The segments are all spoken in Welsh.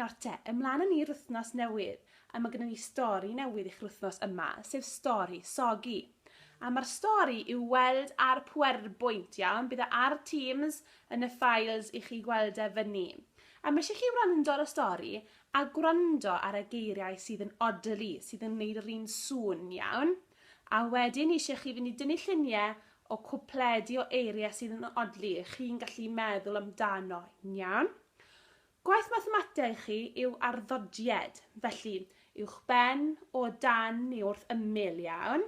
Nawr te, ymlaen â ni i'r wythnos newydd, a mae gennym ni stori newydd i chi'r wythnos yma, sef stori Sogi. A mae'r stori i'w weld ar PowerPoint, iawn? Bydd e ar Teams yn y files i chi gweld e fyny. A mae eisiau chi wrando ar y stori a gwrando ar y geiriau sydd yn odli, sydd yn gwneud yr un sŵn, iawn? A wedyn eisiau chi fynd i dynnu lluniau o cwpledi o eiriau sydd yn odli, chi'n gallu meddwl amdano, iawn? Gwaith mathemateg chi yw arddodied, felly, uwchben, o dan neu wrth ymyl, iawn?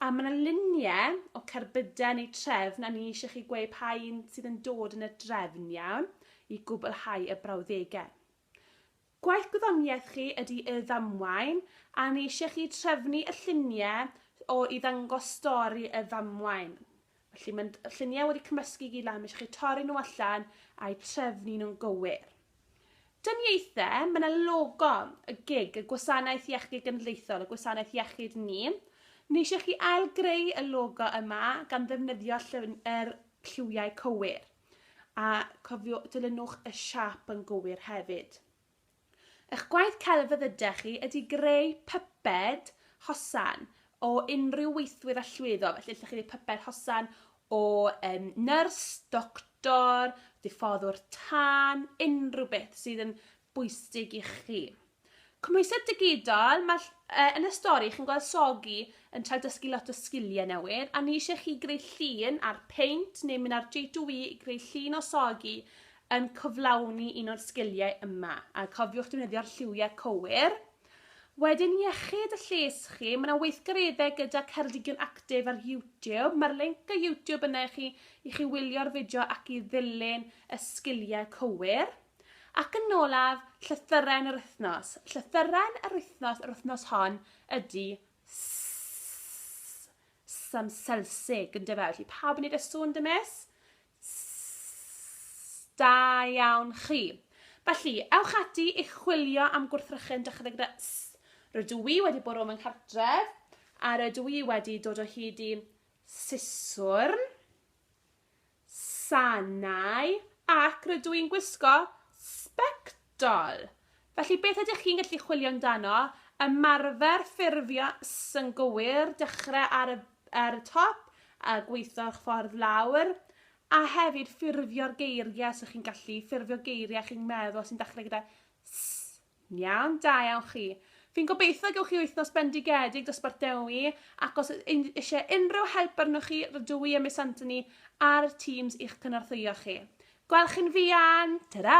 A mae yna luniau o cerbydau neu trefn a ni eisiau chi gweud pa un sydd yn dod yn y drefn, iawn, i gwblhau y brawddegau. Gwaith gwyddoniaeth chi ydy y ddamwain a ni eisiau chi trefnu y lluniau o i ddangos stori y ddamwain. Felly mae'n lluniau wedi cymysgu gyd lan, mae eisiau chi torri nhw allan a'u trefnu nhw'n gywir. Dyniaethau, mae yna logo y gig, y gwasanaeth iechyd genedlaethol, y gwasanaeth iechyd ni. Ni eisiau chi ail greu y logo yma gan ddefnyddio yr lliwiau cywir. A cofio, dilynwch y siap yn gywir hefyd. Eich gwaith celf a ddydech chi ydy greu pyped hosan o unrhyw weithwyr a llwyddo, felly ydych chi wedi pyped hosan o um, nyrs, doctor, diffoddwr tân, unrhyw beth sydd yn bwysig i chi. Cymhwysedd digidol, mae, uh, yn y stori chi'n gweld Sogi yn cael dysgu lot o sgiliau newydd a ni eisiau chi greu llun ar peint neu mynd ar J2E i greu llun o Sogi yn cyflawni un o'r sgiliau yma, a cofiwch defnyddio'r lliwiau cywir. Wedyn iechyd y lles chi, mae yna weithgareddau gyda Ceredigion Actif ar YouTube. Mae'r link y YouTube yna i chi i chi wylio'r fideo ac i ddilyn y sgiliau cywir. Ac yn olaf, llythyrau'n yr wythnos. Llythyrau'n yr wythnos yr wythnos hon ydy sam Selsig, yn dyfa. Felly pawb yn neud y sŵn dymus? Sss da iawn chi. Felly, ewch ati i chwilio am gwrthrychyn dechrau gyda Sss. Rydw i wedi bwrw fy nghartref a rydw i wedi dod o hyd i siswrn, sanau ac rydw i'n gwisgo sbectol. Dol. Felly, beth ydych chi'n gallu chwilio amdano? Ymarfer ffurfio sy'n gywir, dechrau ar y, ar y top a gweithio'ch ffordd lawr, a hefyd ffurfio'r geiriau sy'ch chi'n gallu, ffurfio geiriau chi'n meddwl sy'n dechrau gyda s. Iawn, da iawn chi. Fi'n gobeithio y gewch chi wythnos bendigedig dosbarth Dewi ac os ydych eisiau unrhyw help arnoch chi rydw i a Miss Anthony ar Teams i'ch cynorthwyo chi. Gwelch chi'n fuan! Ta-ra!